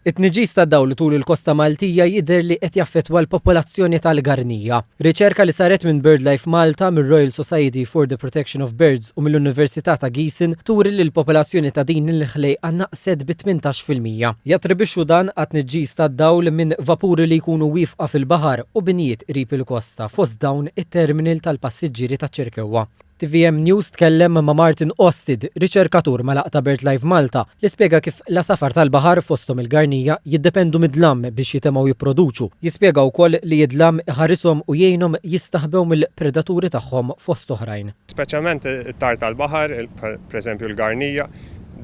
It-tniġġis tad-dawl tul il-kosta Maltija jidher li qed jaffettwa l-popolazzjoni tal-garnija. Riċerka li saret minn BirdLife Malta, mir-Royal Society for the Protection of Birds u mill-Università ta' Giessen turi li l-popolazzjoni ta' din il-ħlejqa naqset bi tmintax fil-mija. Jattribwixxu dan għat-tniġġis tad-dawl minn vapuri li jkunu wieqfa fil-baħar u binjiet qrib il-kosta fost dawn it-terminal tal-passiġġieri taċ-Ċirkewwa. Tvm News tkellem ma' Martin Osted, riċerkatur mal-Għaqda BirdLife Malta, li spjega kif l-għasafar tal-baħar, fosthom il-garnija, jiddependu mid-dlam biex jitemgħu jipproduċu. Jispjega wkoll li d-dlam iħarishom u jgħinhom jistaħbew mill-predaturi tagħhom fost oħrajn. Speċjalment it-tgħar tal-baħar, pereżempju l-garnija,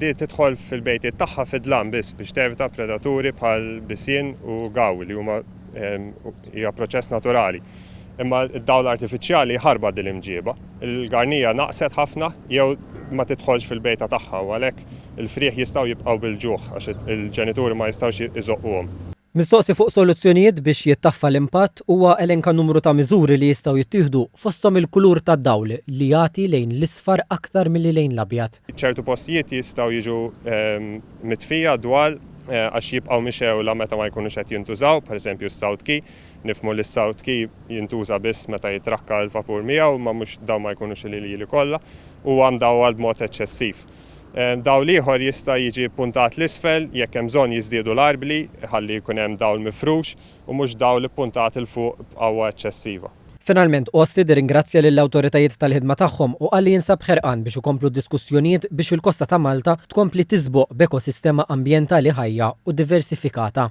di tidħol fil-bejtiet tagħha fid-dlam biss biex tevita predaturi bħal bisien u gaw li huma hija proċess naturali. imma d-dawl artifiċjali jħarbat din l-imġieba. Il-garnija naqset ħafna jew ma tidħolx fil-bejta tagħha u għalhekk il-frieħ jistgħu jibqgħu bil-ġuħ għax il-ġenituri ma jistgħux iżoqquhom. Mistoqsi fuq soluzzjonijiet biex jittaffa l-impatt, huwa elenka numru ta' miżuri li jistgħu jittieħdu, fosthom il-kulur tad-dawl li jagħti lejn l-isfar aktar milli lejn l-abjad. Ċertu postijiet jistgħu jiġu mitfija d-dwal għax jibqgħu mixgħula meta ma jkunux qed jintużaw, pereżempju s-South Quay. Nifhmu li s-South Quay jintuża biss meta jitrakka l-vapur miegħu, imma mhux dawn ma jkunux il-ilili kollha. Huwa mdawwal b'mod eċċessiv. Dawl ieħor jista' jiġi ppuntat 'l isfel, jekk hemm bżonn jiżdiedu l-arbli ħalli jkun hemm dawl mifrux u mhux dawl ippuntat 'il fuq b'qawwa eċċessiva. Finalment Orsted irringrazzja lill-awtoritajiet tal-ħidma tagħhom u qal li jinsab ħerqan biex ikomplu d-diskussjonijiet biex il-kosta ta' Malta tkompli tiżboq b'ekosistema ambjentali ħajja u diversifikata.